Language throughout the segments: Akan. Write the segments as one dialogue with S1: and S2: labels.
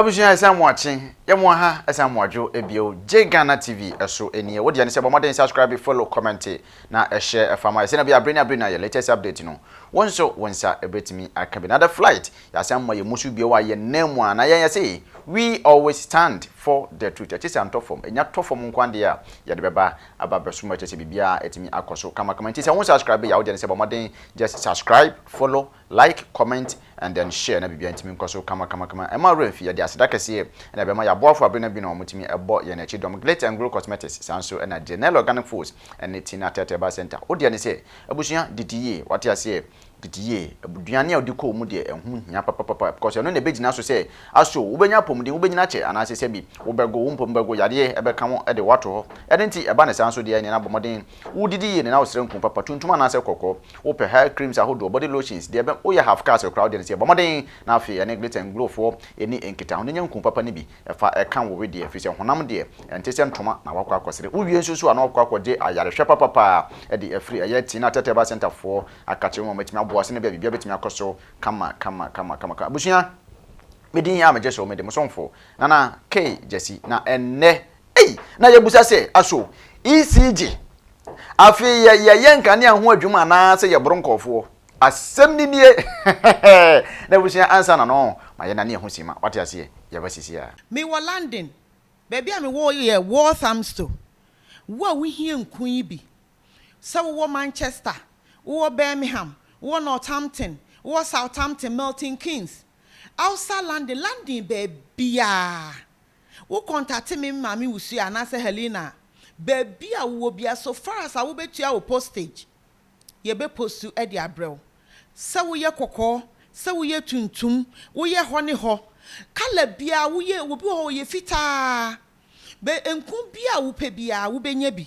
S1: Abusua yɛ sɛ moakye yɛ mo aha ɛsɛ moadwo ɛbio gye Ghana TV ɛso nie wo deɛ ne sɛ bɔ mmɔden subscribe follow commente na ɛhyɛ ɛfa ma yɛ sɛnea ɛbɛyɛ a bere ne abere no a yɛ latest update no wo nso wo nsa ɛbɛtumi aka bi na the flight yɛ asan mma yɛ musu bio a yɛ nan mu a na yɛn yɛse we always stand for the truth ɛkyesɛ antɔ fam ɛnya tɔ fam nkoa deɛ a yɛde bɛba aba bɛso mu ɛkyesɛ biribiara ɛtumi akɔ so kama kama nti sɛ wo subscribe yɛ a wo deɛ ne sɛ bɔ mmɔden just subscribe follow Like, comment and then share na biribiara ntumi nkɔ so kamakamakama. Mma wo werɛ mfi, yɛde aseda kɛseɛ na ɛbɛma yɛn aboafo abenna binom a wɔtumi bɔ yɛn akyi dɔm, Glit and Glow Cosmetics, saa nso na Genel Organic Foods ne Tina Tete Herbal Centre. Wo deɛ ne sɛ, abusua, didi yie, wate aseɛ? Didi yie. Aduane a wodi kɔɔ mu deɛ, ɛho hia papapapa because ɛno na ɛbɛgyina so sɛ, aso wobɛnya apɔmuden, wobɛnyini akyɛ anaasɛ sɛbi, wobɛgo, wo mpo bɛgo, yadeɛ bɛka wo de wo ato hɔ. Ɛno nti, ɛba no saa nso deɛ, ɛneɛ na bɔ mmɔden Wo didi yie nena wo srɛ nku papa tuntum anaasɛ kɔkɔɔ wo pɛ hair creams ahodoɔ body lotions deɛ ɛbɛ wo yɛ half caste koraa wo deɛ no sɛ bɔ mmɔden na afei ɛne glitter and glow foɔ ɛni nkita ho na nya nku papa no bi fa ɛka wo wedeɛ ɛfiri sɛ honam deɛ ɛnte sɛ ntoma na wakɔ akɔ sere wo wie nso so a na wakɔ akɔ gye ayare hwɛ papa paa ɛde afiri ɛyɛ tina tɛtɛba center foɔ akakye wo ma matumi aboa wo sɛnɛ bia biribia bɛtumi akɔ so kama kama kama kama kama abusua me din a megye so me de mo somfo Nana K Gyasi na ɛnnɛ Ei! Na yɛbisa sɛ, Aso ECG afei yɛ yɛyɛ nkanea ho adwuma anaasɛ yɛboro nkurɔfoɔ? Asɛm no nie! N'abusua ansa na no ma yɛnane yɛn ho simma. Wate aseɛ? Yɛba seesei a. Mewɔ London.
S2: Baabi a mewɔ yɛ Walthamstow. Wo a wohia nku yi bi, sɛ wowɔ Manchester, wowɔ Birmingham, wowɔ Northampton, wowɔ Southampton, Milton Keynes, outside London, London baabiara, Wo kɔntate me maame Ursula anaasɛ Helena a, baabi a wowɔ biara so far as a wobetua wo postage, yɛbɛ postu de abrɛ wo. Sɛ woyɛ kɔkɔɔ, sɛ woyɛ tuntum, woyɛ hɔ ne hɔ, colour biara, woyɛ, obi wɔ hɔ ɔyɛ fitaa, bɛ nko biara a wopɛ biara wobenya bi.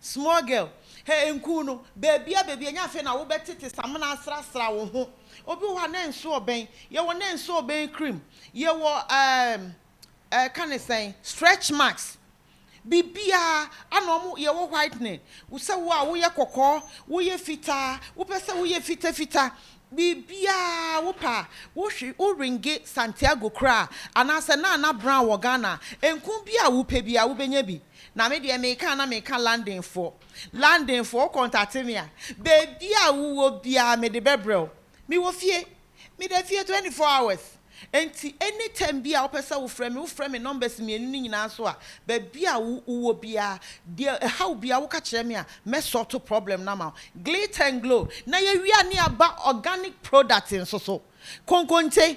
S2: Small girl, hɛ nku no, baabia baabia nyɛ afei na wobɛtete samena asrasra wo ho. Obi wɔ hɔ a na nso ɔbɛn, yɛwɔ na nso ɔbɛn cream, yɛwɔ ɛɛm ɛɛka no sɛn, stretch marks, biribiaa ana ɔmo, yɛwɔ whitening, sɛ wo a woyɛ kɔkɔɔ, woyɛ fitaa, wopɛ sɛ woyɛ fita fita, biribiaa wopɛ a, wo hwe, wo ringe Santiago koraa, anaasɛ Nana Brown wɔ Ghana a, nku biaa wopɛ biaa wobɛnya bi. Na me deɛ meka a na meka London foɔ. London foɔ wo kɔntate me a baabi a wo wɔ biara me de bɛ brɛ wo. Me wɔ fie. Me da fie twenty four hours. Nti any time biara wo pɛ sɛ wo frɛ me wo frɛ me numbers mmienu no nyinaa so a baabi a wo wo wɔ biara deɛ ɛha wo biara wo ka kyerɛ me a mɛ sort problem no ama wo. Glitter and glow na yɛ wia ne aba organic product nso so. Konkonte.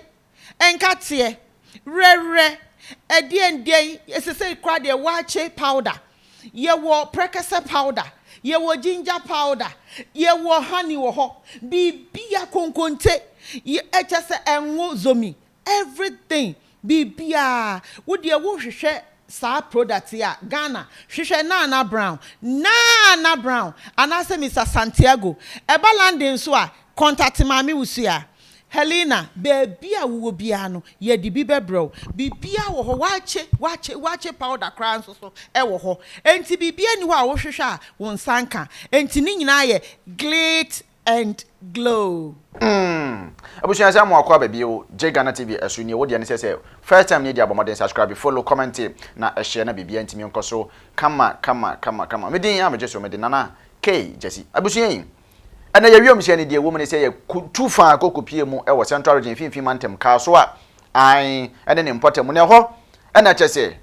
S2: Nkateɛ, werɛwerɛ, ɛdeɛndeɛn, sesei koraa deɛ waakye powder, yɛwɔ prɛkɛsɛ powder, yɛwɔ ginger powder, yɛwɔ honey wɔ hɔ, biribia konkonte, kyerɛ sɛ ɛnwo zomi, everything, biribiaa, wo deɛ wo hwehwɛ saa product yi a, Ghana, hwehwɛ Nana Brown, Nana Brown, anaasɛ Mister Santiago, ɛba London nso a, contact Maame Wusu a. Helena, Baabi a wowɔ biara no, yɛde bi bɛbrɛ wo. Biribiara wɔ hɔ, wɔakye, wɔakye, wɔakye powder koraa nso so wɔ hɔ. Enti biribiara nni hɔ a wohwehwɛ a wo nsa nka. Enti ne nyinaa yɛ glit and glow. Umm
S1: abusua sɛ amoa kɔ aba bio gye Ghana TV ɛso nie wo deɛ ne sɛ sɛ first time nie deɛ abɔ mmɔden subscribe follow commente na share na biribiara ntumi nkɔ so kama kama kama kama me din a megye so me de Nana K Gyasi abusua yi Ɛnna yɛn wiemhyɛn no deɛ ɛwɔ mu ne sɛ yɛtu fa kɔ kɔpie mu wɔ Central Region mfimfini mantam, Kasoa, Ae, ne ne mpɔtam, na ɛhɔ na kyɛ sɛ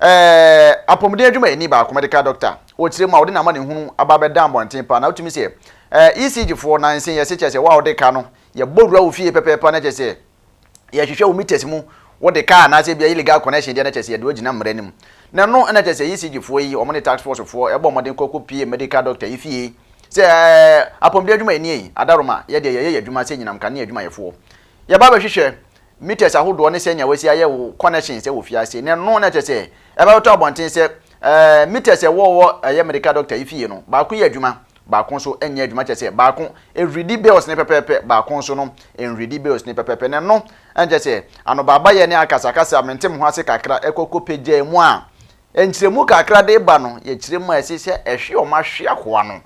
S1: eh, apɔmuden adwumayɛni baako, medical doctor, ɔkyerɛ mu a ɔde n'amanehunu aba abɛda mmɔnten paa, na wotumi sɛ eh, ECG foɔ, na nsɛnyɛse kyɛ sɛ wo a wode ka no, yɛbɔ wura wo fie pɛpɛɛpɛ na kyɛ sɛ yɛhwehwɛ wo meters mu wode car anaasɛ bia illegal connection deɛ na kyɛ sɛ yɛde wagyina mmara no mu na ɛno na kyɛ sɛ ECG foɔ yi wɔn ne tax force foɔ ɛbɔ mmɔden kɔ kɔ pie medical doctor yi fie sɛ apɔmuden adwuma yɛ nie adaroma yɛ deɛ yɛyɛ yɛ adwuma sɛ nyinam kanea adwumayɛfoɔ yɛba bɛhwehwɛ meters ahodoɔ ne sɛnea wasi ayɛ wo connection sɛ wɔ fie ase na ɛno na kyɛ sɛ ɛbɛtɔ abɔnten sɛ meters ɛwɔ wɔ ɛyɛ medical doctor yi fie no baako yɛ adwuma Baako nso nyɛ adwuma kyerɛ sɛ baako nhwiridi bells ne pɛpɛɛpɛ, baako nso no nhwiridi bells ne pɛpɛɛpɛ. Na ɛno nkyerɛ sɛ anobaabayɛ ne akasakasa a mente mo ho ase kakra kɔ kɔpagyaa mu a nkyerɛmu kakra de ba no yɛ kyerɛmu a ɛse sɛ ɛhwe wɔn ahweahoa no.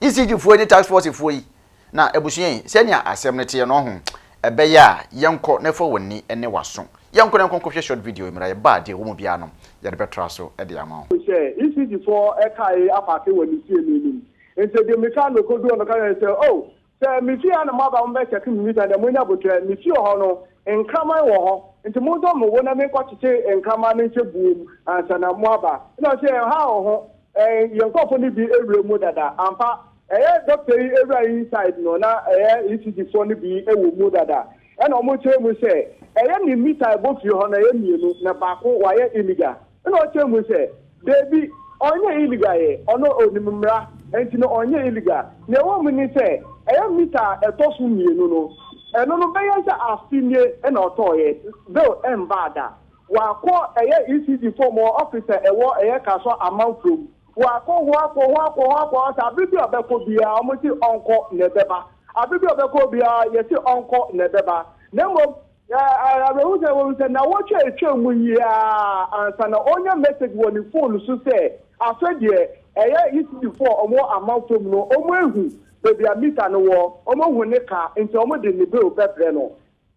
S1: ECG foɔ yi ne task force foɔ yi Na abusua yi, sɛnea asɛm no teɛ no, ɔho, ɛbɛyɛ a, yɛnkɔ na fa w'ani ne w'aso. Yɛnkɔ na yɛnkɔ nkɔhwɛ short video yi mmra, yɛba a, deɛ ɛwɔ mu biara no, yɛde bɛtra so de ama wo. Hyɛ ECD foɔ
S3: kae apaake wɔ ne fie no anim. Nti de mmirika na ɔkɔduu hɔ no ɔka kyerɛɛ no sɛ, Oh, sɛ me fie ha na moaba mo bɛ check me meter no deɛ moanya aboterɛ. Me fie hɔ no, nkraman wɔ hɔ, nti montɔ me wo na me nkɔ kyekye nkraman no nhyɛ buo mu ansa na moaba. Ɛna ɔsee, Ɛha wɔ ho, yɛn nkorɔfoɔ no bi awura mu dada. Ampa, Ɛyɛ dɔkta yi awura inside no na ɛyɛ ECG foɔ no bi wɔ mu dada ɛna ɔmo kyerɛ mu sɛ ɛyɛ ne mita ɛbɔ fie hɔ no ɛyɛ mmienu na baako wayɛ illegal ɛna ɔkyerɛ mu sɛ daabi ɔnyɛ illegal yɛ ɔno ɔnim mmra nti no ɔnyɛ illegal nea ɛwɔ mu ne sɛ ɛyɛ mita a ɛtɔ so mmienu no ɛno no bɛyɛ sɛ afe nie ɛna ɔtɔɔyɛ bill ɛmbaa da wakɔ ɛyɛ ECG foɔ ɔmo office a ɛwɔ ɛyɛ Kasoa Amanfrom. Wakɔ hɔ, akɔ hɔ, akɔ hɔ, akɔ hɔ, sɛ abe bi a ɔbɛkɔ biara, wɔse ɔnkɔ na ɛbɛba. Abe bi a ɔbɛkɔ hɔ biara, yɛse ɔnkɔ na ɛbɛba. Na mmom, awerɛhow sɛ, wahu sɛ nnawɔtwe a etwaam mu yi ara ansa na ɔrenya message wɔ ne fon so sɛ, Afei deɛ, ɛyɛ Eastdfoɔ a wɔwɔ Amafam no, wɔahu baabi a mita no wɔ, wɔahu ne ka, enti wɔde ne bill bɛbrɛ no.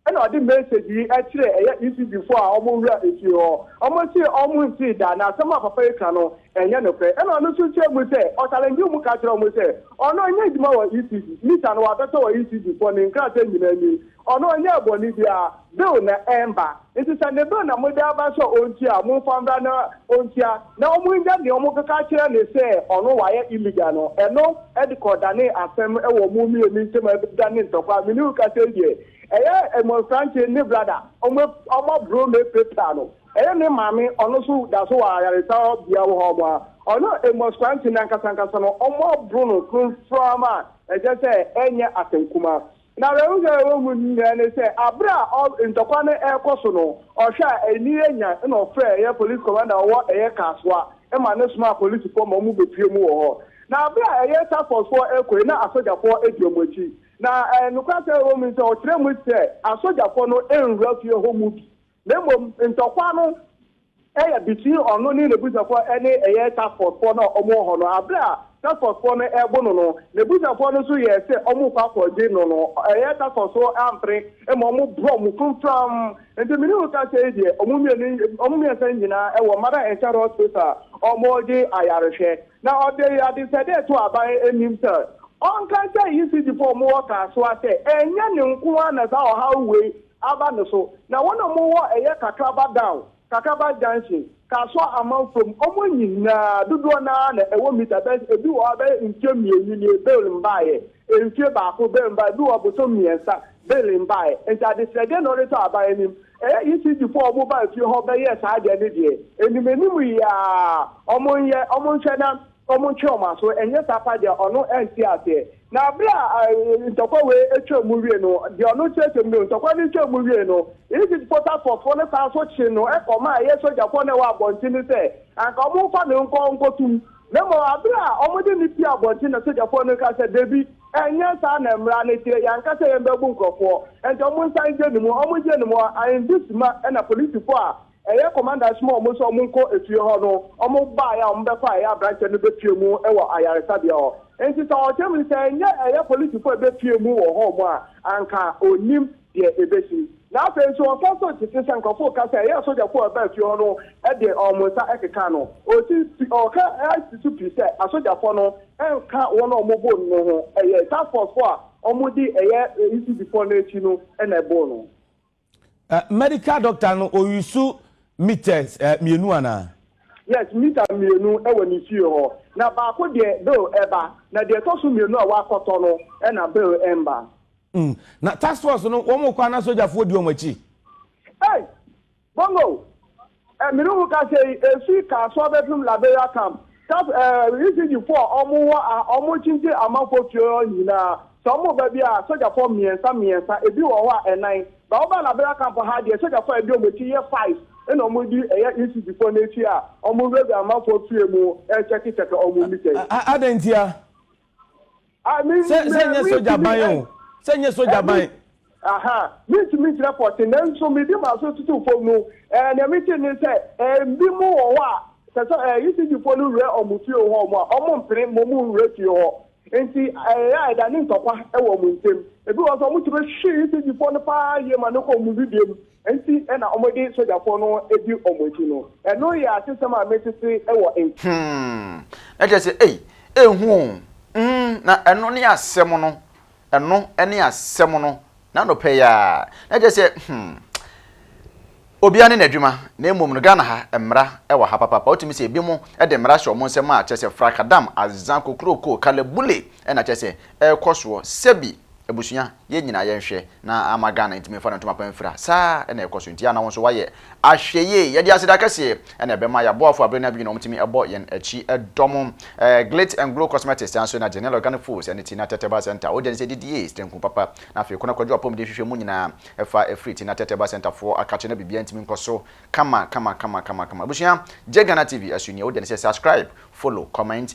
S3: Ɛna ɔde message yi kyerɛɛ ɛyɛ ECD foɔ a wɔn wura efie hɔ. Wɔn se wɔn ntee da, na asɛm a papa yi ka no ɛnyɛ nokorɛ. Ɛna ɔno nso kyerɛɛ mu sɛ ɔchalengee wɔn ka kyerɛɛ wɔn sɛ ɔno ɔnyɛ adwuma wɔ ECD, Lisa no wabɛtɔ wɔ ECD foɔ ne nkrataa nyinaa ni. Ɔno ɔnyɛɛ bɔne biara, bill na ɛmba. Nti sɛ ne bill na mode aba sɛ ɔntua a, momfa mbra na ɔntua. na wɔannya nea wɔbɛka akyerɛ no sɛ ɔno wayɛ illegal no, ɛno de kɔdanee asɛm wɔ wɔn mmienu ntam a ɛbɛdanee ntɔkwaw. Me ne wo kasa yi deɛ, ɛyɛ mmɔnfrankye ne brada, wɔaboro no apirapira no. Ɛyɛ ne maame, ɔno nso da so wɔ ayaresabea wɔ hɔ a, ɔno mmɔnfrankye no ankasa ankasa no, wɔaboro no frɔmfrɔm a ɛkyerɛ sɛ ɛnyɛ asɛm kumaa. Na n'ahonya a ɛwɔ mu nyinaa ne sɛ, bere a ɔ, ntɔkwa no rekɔ so no, ɔhwɛ a ani yɛ nyan, ɛnna ɔfrɛɛ ɛyɛ police commander a ɔwɔ ɛyɛ Kasoa ma no somaa apolisifoɔ ma wɔbɛpuee mu wɔ hɔ. Na bere a ɛyɛ task forcefoɔ rekɔ yi, na asogyafoɔ di wɔn akyi. Na ɛ, nokwasɛm a ɛwɔ mu ne sɛ, ɔkyerɛɛ mu sɛ asogyafoɔ no nnwura fie hɔ mu bi. Na mmom ntɔkwa no yɛ between ɔno ne n'abusuafoɔ ɛne ɛyɛ task force foɔ no a wɔn wɔ hɔ no aberɛ a task force foɔ no ɛrebo no no n'abusuafoɔ no nso yɛɛ sɛ wɔn rekɔ akɔ gye no no ɛyɛ task force foɔ ampere ma wɔn borɔ wɔn framfram nti mene wo ka sɛi deɛ wɔn mmienu wɔn mmiɛnsa nyinaa ɛwɔ mother and child hospital a wɔn regye ayarehwɛ na ɔde adesɛdeɛ to aban anim sɛ ɔnka nkyɛ ECG foɔ wɔn wɔ Kasoa sɛ ɛnyɛ ne nko ara na saa ɔhaw wei aba no so na wɔn a wɔwɔ ɛyɛ Kakraba Down, Kakraba Junction, Kasoa Amanfoɔ mu, wɔn nyinaa dodoɔ no ara na ɛwɔ mita bɛyɛ ebi wɔ hɔ a ɛbɛyɛ mfie mmienu nie bail no baeɛ, mfie baako bail no baeɛ, ebi wɔ hɔ bosome mmiɛnsa bail no baeɛ. Nti adesrɛdeɛ na wɔde tɔ aban anim. Ɛyɛ ECD foɔ a wɔn baa fie hɔ bɛyɛɛ saa adeɛ no deɛ, anim anim yi ara wɔn nyɛ, wɔn nhwɛ na wɔn ntwe wɔn aso, ɛnyɛ saa paa deɛ ɔno ɛnte aseɛ. Na bere a ntɔkwa wei twaa mu wiei no, deɛ ɔno kyerɛkyerɛ mu bio, ntɔkwa no twaa mu wiei no, Egyptfoɔ task force foɔ no san nso kyee no kɔmaa ɛyɛ sogyafoɔ no a ɛwɔ abɔnten no sɛ anka wɔmfa no nkɔ nkɔtum. Na mmom bere a wɔde no pue abɔnten no na sogyafoɔ no kaa sɛ, Dabi, ɛnyɛ saa na mmara no kyerɛ, yɛanka sɛ yɛn bɛbu nkurɔfoɔ, enti wɔnsan ngye no mu, wɔngye no mu a, Aindisima na polisifoɔ a Ɛyɛ kɔmanda ɛsomaa wɔn sɛ wɔn nkɔ efie hɔ no, wɔn baeɛ a wɔn bɛkɔ a ɛyɛ abranteɛ no bɛpue mu wɔ ayaresabea hɔ. Enti sɛ ɔkyerɛ mu no sɛ ɛnyɛ ɛyɛ polisifoɔ a ɛbɛpue mu wɔ hɔ mu a, anka ɔnnim deɛ ɛbɛsi. Na afei nso ɔka nso tete sɛ nkorɔfoɔ reka sɛ ɛyɛ asogyafoɔ a ɛbaa fie hɔ no de wɔn nsa kekaa no. Ɔsi pi, ɔka si so pi sɛ asogyafoɔ no nka wɔn a wɔn boo no no ho, ɛyɛ task force foɔ a wɔn di ɛyɛ ECD foɔ no akyi no na ɛboo no. Eh,
S4: medical doctor no ɔyusu meters eh, mmienu anaa? Yes, mita
S3: mmienu wɔ ne fie hɔ. Na baako deɛ bill ɛba, na deɛ ɛtɔ so mmienu a wakɔtɔ no na bill ɛmba. Mm, na
S4: task force no wɔn kɔ ana sogyafoɔ di wɔn akyi? Hey,
S3: bongo! Eh, mene wo kasa yi, esui kaa so abɛpem Liberia camp, Cap, eh, refugee fo a ɔmo wɔ a ɔmo kyinkyin amanfoɔ fie hɔ nyinaa, sɛ ɔmo ba bi a, sogyafoɔ mmiɛnsa mmiɛnsa, ebi wɔ hɔ a ɛnan, ba wo ba Liberia camp ha deɛ sogyafoɔ a ɛdi ɔmo akyi yɛ five, ɛna ɔmo di ɛyɛ refugee foɔ no akyi a ɔmo wura wura amanfoɔ fie mu ɛɛkyɛke kyɛke ɔmo mmitɛɛ. A, a, adɛn ntia? sɛ nyɛ sogya ban
S4: o sɛ nyɛ sogya ban.
S3: mentumi nkyerɛ pɔte nanso mede m'aso toto fam no nea mete ne sɛ ebi mu wɔ hɔ a sɛ sɛ ECG fo no wura wɔn fie wɔ hɔ a wɔn mpene mmom nwura fie hɔ nti ɛyɛ a ɛda ne ntɔkwa wɔ wɔn ntam ebi wɔ sɛ wɔtumi hwe ECG fo no paa yie ma no kɔ wɔn bibie mu Enti na wɔde sogyafoɔ no di
S1: wɔn akyi no. Ɛno yɛ atesɛm a metete wɔ nk. Hmm. Na kyerɛ sɛ, ei, ɛnhu o. Hmm, na ɛno ne asɛm no. Ɛno ne asɛm no. N'anɔpa yi ara. Na kyerɛ sɛ, hmm, obiara ne n'adwuma. Na mmom no, Ghana ha, mmara wɔ ha papaapa. Wotumi sɛ ebinom de mmara hyɛ wɔn nsam a, kyerɛ sɛ, frakadam, azan, kokuroko, kalabule na kyerɛ sɛ, ɛrekɔ soɔ. Sɛbi. Abusua, yɛn nyinaa yɛnhwɛ na amma Ghana ntumi mfa ne ntoma pa mfira. Saa ara na ɛkɔ so. Enti yɛ a na wo nso woayɛ ahwɛyie. Yɛde aseda kɛseɛ na ɛbɛma yɛn aboafoɔ a berɛ no abue na wɔtumi bɔ yɛn akyi dɔ mo. Glitz and Glow Cosmetics san nso na Genel Organic Foods ne Tina Teteba Centre, Ogya Nsi Adidie, Stanku Papa, na afei Kona Kwadwo Apɔmuden Hwehwɛ mu nyinaa fa firi Tina Teteba Centre foɔ akakye na biribiara ntumi nkɔ so kama kama kama kama kama. Abusua, gye Ghana TV so nie. Ogya Nsi, Subscribe, Follow, Comment.